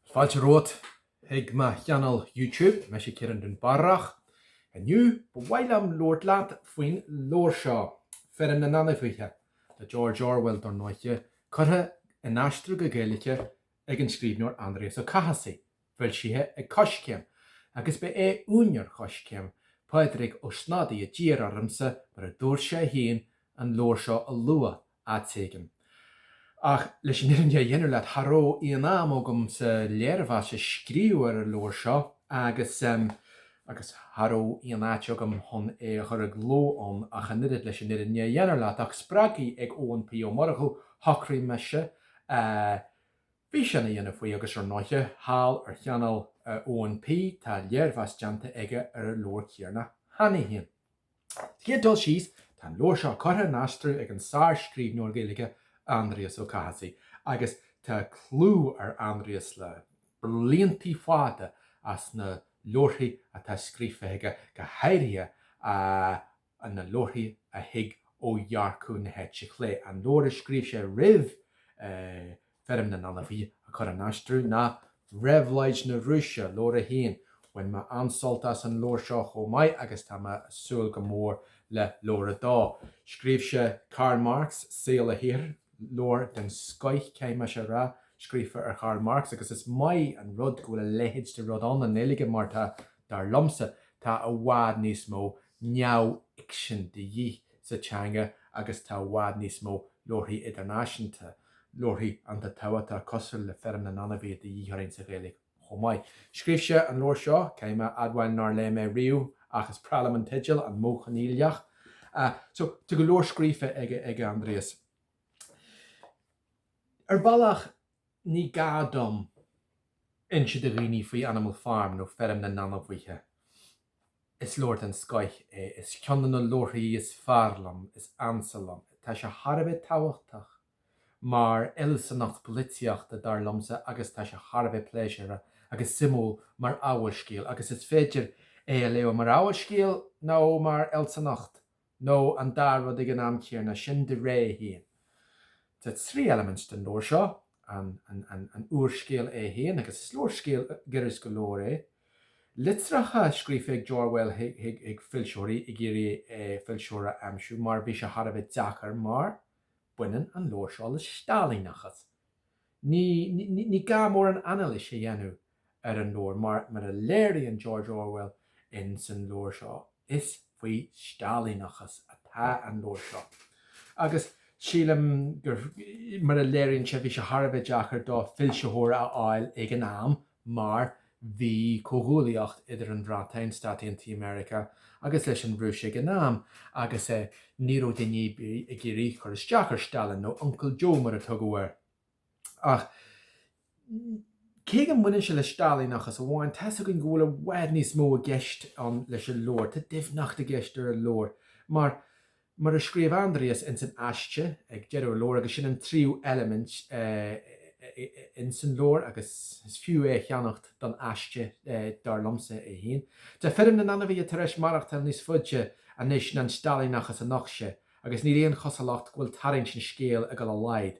Fáilte romhat ag mo channel YouTube, mise Ciarán Dúnbarrach. Inniu, ba mhaith liom labhairt leat faoin leabhar seo, Feirm na nAinmhithe, le George Orwell, dar ndóiche, curtha in aistriú go Gaeilge ag an scríbhneoir Aindrias Ó Cathasaigh, foilsithe ag Coiscéim, agus ba é úinéir Choiscéim, Pádraig Ó Snodaigh a d'iarr ormsa, mar a dúirt sé féin, an leabhar seo a lua áit éigin. Ach leis an fhirinne a dhéanamh leat, cha raibh aon am agam sa léirmheas a scríobh ar an leabhar seo agus agus cha raibh aon áit agam chun é a chur i gcló ann ach an oiread, leis an fhirinne a dhéanamh leat. Ach spreagtha ag Eoin P. Ó Murchú, shocraigh mise físeán a dhéanamh faoi agus ar ndóiche, thall ar channel Eoin P. tá léirmheas déanta aige ar an leabhar céanna cheana féin. Sa chéad dul síos, tá an leabhar seo curtha in aistriú ag an sárscríbhneoir Gaeilge Aindrias Ó Cathasaigh agus tá clú ar Aindrias le bliantaí fada as na leabharthaí atá scríofa aige, go háirithe na leabharthaí a thig ó dhearcadh na heite chlé, an leabhar a scríobh sé roimh Feirm na nAinmhithe a chur in aistriú ná Réabhlóid na Rúise, Leabhar 1. Bhain mé an-sult as an leabhar seo chomh maith agus tá mé ag súil go mór le Leabhar 2. Scríobh sé Karl Marx, Saol agus Saothar, leabhar den scoith, caithfidh mé a rá, scríofa ar Kharl Marx agus is maith an rud go bhfuil a leithéid de rud ann i nGaeilge mar tá, dar liomsa, tá i bhfad níos mó neamhfhicsin de dhíth sa teanga agus tá i bhfad níos mó leabharthaí idirnáisiúnta. Leabharthaí den tábhacht atá cosúil le Feirm na nAinmhithe de dhíth orainn sa Ghaeilge chomh maith. Scríobh sé an leabhar seo, caithfidh mé a admháil nár léigh mé riamh ach is breá liom an teideal, An Modh Coinníollach. So, tá go leor scríofa aige, ag Aindrias. Ar bhealach, ní gá dom inse do dhaoine faoi Animal Farm nó Feirm na nAinmhithe. Is leabhar den scoith é, is ceann de na leabharthaí is fearr liom, is ansa liom. Tá sé thar a bheith tábhachtach mar fhealsúnacht polaitíochta, dar liomsa, agus tá sé thar a bheith pléisiúrtha agus suimiúil mar fhabhalscéal, agus is féidir é a léamh mar fhabhalscéal nó mar fhealsúnacht nó an dá rud ag an am céanna, sin do rogha féin. Tá trí elements den leabhar seo, an úrscéal é féin, agus is úrscéal giorraisc go leor é, litreacha scríofa ag Orwell chuig foilsitheoirí ag iarraidh foilsitheoir a aimsiú, mar bhí sé thar a bheith deacair mar baineann an leabhar seo le Stailíneachas. Ní gá mórán anailís a dhéanamh ar an leabhar mar, mar a léiríonn George Orwell ins an leabhar seo, is faoi Stailíneachas atá an leabhar seo. Agus sílim gur, mar a léiríonn sé, bhí sé thar a bheith deacair dó foilsitheoir a fháil ag an am mar bhí comhghuaillíocht idir an Bhreatain, Stáit Aontaithe Meiriceá, agus leis an Rúis ag an am, agus eh ní raibh duine ar bith ag iarraidh cur isteach ar Stalin, nó Uncle Joe mar a tugadh air. Ach cé go mbaineann sé le Stailíneachas amháin, tá's againn go bhfuil i bhfad níos mó i gceist leis an leabhar, tá doimhneacht i gceist leis an leabhar, mar Mar a scríobh Aindrias ins an aiste ag deireadh an leabhair, agus sin an tríú eilimint ins an leabhar agus is fiú é a cheannach don aiste, dar liomsa é féin, Tá feirm na n-ainmhithe tar éis maireachtáil níos faide anois ná an Stailíneachas a nocht sé, agus níl aon chosúlacht go bhfuil tarraingt an scéil ag dul i laghad.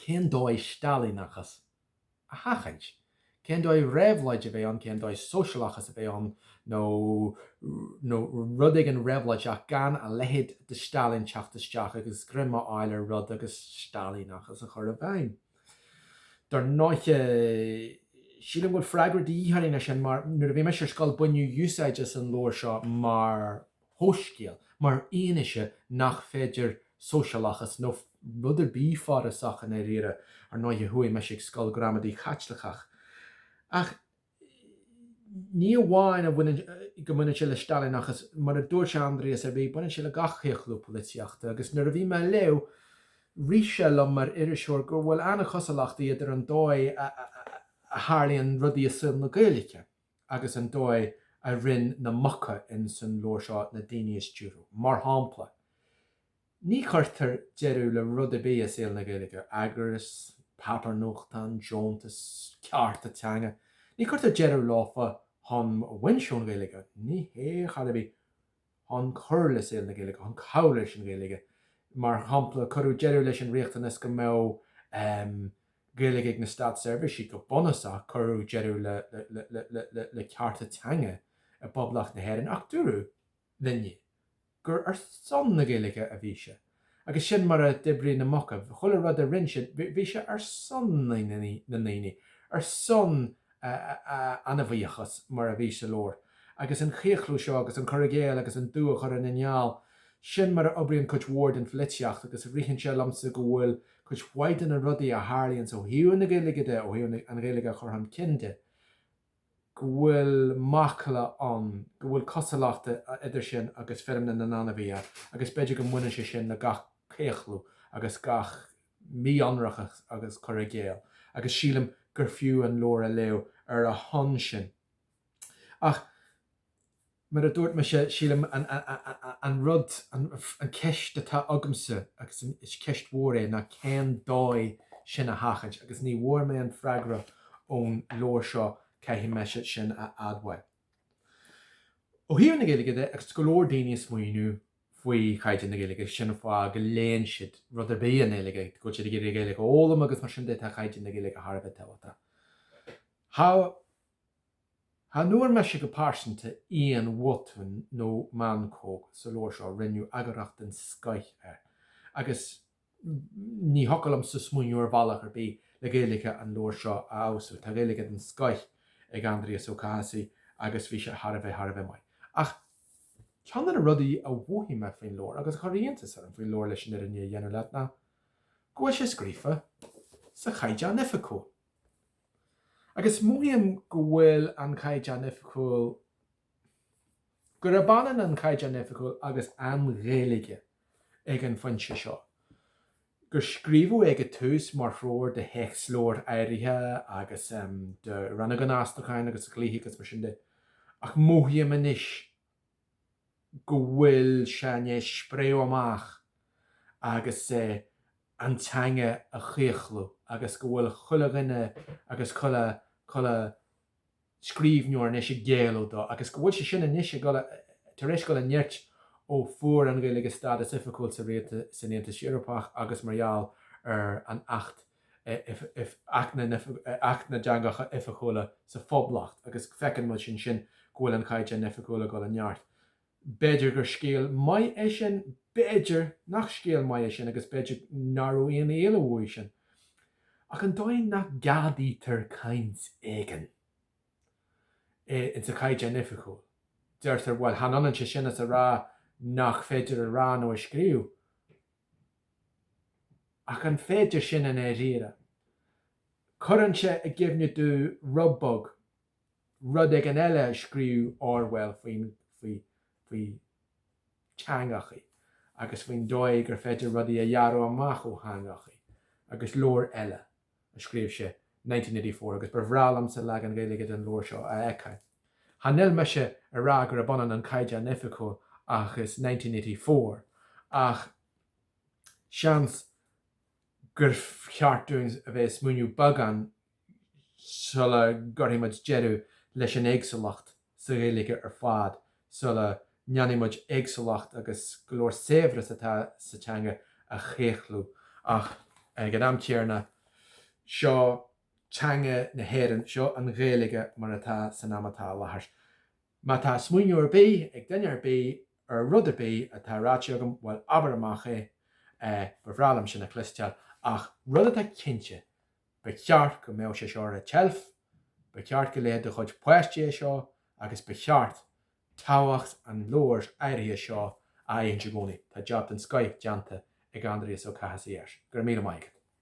Cén dóigh Stailíneachas a sheachaint? Cén dóigh réabhlóid a bheith ann, cén dóigh sóisialachas a bheith ann nó, nó rud éigin réabhlóideach gan a leithéid de Stalin teacht isteach agus greim a fháil ar rud agus Stailíneachas a chur i bhfeidhm? Dar ndóighe, sílim go bhfuil freagra de dhíth orainn ar sin mar nuair a bhí mise ar scoil baineadh úsáid as an leabhar seo mar fhabhalscéal mar fhianaise nach féidir sóisialachas nó rud ar bith forásach i ndáiríre. Ar ndóighe, chuaigh mise chuig scoil gramadaí Chaitliceach. Ach ní amháin go mbaineann sé le Stailíneachas, mar a dúirt Aindrias ar ball, baineann sé le gach claochlú polaitíochta. Agus nuair a bhí mé á léamh, rith sé liom mar iriseoir go bhfuil an-chosúlachtaí idir an dóigh a tharlaíonn rudaí i saol na Gaeilge, agus an dóigh a rinn na muca in san leabhar seo na daoine a stiúrú. Mar shampla, ní chuirtear deireadh le rud ar bith i saol na Gaeilge, eagrais, páipéar nuachtáin, deontais, cearta teanga, ní chuirtear deireadh leofa chun baint ón Ghaeilge, ní hé, chor ar bith. chun cur le saol na Gaeilge, chun cabhrú leis an Ghaeilge. Mar shampla, cuireadh deireadh leis an riachtanas go mbeadh Gaeilge ag na státseirbhísigh, go bunúsach, cuireadh deireadh le cearta teanga i bPoblacht na hÉireann ach dúradh linne gur ar son na Gaeilge a bhí sé. Agus sin mar a d'oibrigh na muca. Chuile rud a rinn siad, bhí sé ar son na ndaoine, ar son a ainmhíochas mar a bhí sa leabhar. Agus an claochlú seo agus an cur i gcéill agus an dubh a chur ina gheal, sin mar a oibríonn cuid mhór den pholaitíocht agus ritheann sé liomsa go bhfuil cuid mhaith de na rudaí a tharlaíonns ó thaobh na Gaeilge de, ó thaobh an Ghaeilge a chur chun cinn de, go bhfuil macalla ann go bhfuil cosúlacht idir sin agus feirm na n-ainmhithe agus b'fhéidir go mbaineann sé sin le gach claochlú agus gach mí-ionracas agus cur i gcéill agus sílim gur fiú an leabhar a léamh ar a shon sin. Ach. Mar a dúirt mise, sílim an rud, an ceist atá agamsa, agus is ceist mhór é, ná cén dóigh sin a sheachaint? Agus ní bhfuair mé an freagra ón leabhar seo, caithfidh mise sin a admháil. Ó thaobh na Gaeilge de, agus go leor daoine ag smaoineamh faoi chaighdeán na Gaeilge, sin an fáth go léann siad rud ar bith i nGaeilge, go bhfuil siad ag iarraidh Gaeilge a fhoghlaim agus mar sin de, tá caighdeán na Gaeilge thar a bheith tábhachtach. Chan fhuair mise go pearsanta aon bhotún nó meancóg sa leabhar seo, rinneadh eagarthóireacht den scoith air, agus ní thiocfadh liomsa smaoineamh ar bhealach ar bith le Gaeilge an leabhair seo a fheabhsú. Tá Gaeilge den scoith ag Aindrias Ó Cathasaigh agus bhí sé thar a bheith, thar a bheith maith. Ach ceann de na rudaí a mhothaigh mé faoin leabhar, agus a chuir iontas orm faoin leabhar leis an fhirinne a dhéanamh leat, ná go bhfuil sé scríofa sa Chaighdeán Oifigiúil. Agus mothaím go bhfuil an Caighdeán Oifigiúil, gurb ionann an Caighdeán Oifigiúil agus an Ghaeilge ag an phointe seo, gur scríobhadh é ag an tús mar threoir do théacsleabhair áirithe agus do rannóga an aistriúcháin agus dlíthe agus mar sin de, ach mothaím anois go bhfuil sé i ndéis spréadh amach agus an teanga a chlaochlú agus go bhfuil chuile dhuine agus chuile chuile scríbhneoir anois ag géilleadh dó agus go bhfuil sé sin anois ag dul, tar éis dul i neart ó fuair an Ghaeilge stádas oifigiúil san Aontas Eorpach agus mar gheall ar an Acht Acht na dTeangacha Oifigiúla sa Phoblacht agus feiceann muid ansin go bhfuil an Caighdeán Oifigiúil ag dul i neart. B'fhéidir gur scéal maith é sin, b'fhéidir nach scéal maith é sin agus b'fhéidir nach raibh aon éalú uaidh sin. Ach an dóigh nach gceadaítear caint éigin sa Chaighdeán Oifigiúil, deirtear, bhuel, chan ionann sé sin is a rá nach féidir a rá nó a scríobh. Ach an féidir sin i ndáiríre? Cuireann sé i gcuimhne domh rud beag, rud éigin eile a scríobh Orwell faoin, faoi, faoi teangachaí agus faoin dóigh gur féidir rudaí a ghearradh amach ó theangachaí agus leabhar eile. a scríobh sé, Nineteen Eighty Four, agus ba bhreá liomsa leagan Gaeilge den leabhar seo a fheiceáil. Chan fhuil mise ag rá gurb ionann an Caighdeán Oifigiúil agus Nineteen Eighty Four, ach seans gur cheart dúinn a bheith ag smaoineamh beagán sula gcuirfidh muid deireadh leis an éagsúlacht. sa Ghaeilge ar fad sula ndéanfaidh muid éagsúlacht agus go leor saibhreas atá sa teanga a chaochú ach ag an am chéarna seo teanga na hÉireann, seo an Ghaeilge mar atá san am atá i láthair. Má tá smaoineamh ar bith ag duine ar bith ar rud ar bith atá ráite agam, bhuel, abair amach é, ba bhreá liom sin a chloisteáil. Ach rud atá cinnte, Ba cheart go mbeadh sé seo ar an tseilf, ba cheart go léadh do chuid páistí é seo agus ba cheart tábhacht an leabhair áirithe seo a aithint i gcónaí. Tá jab den scoith déanta ag Aindrias Ó Cathasaigh air. Go raibh míle maith agat.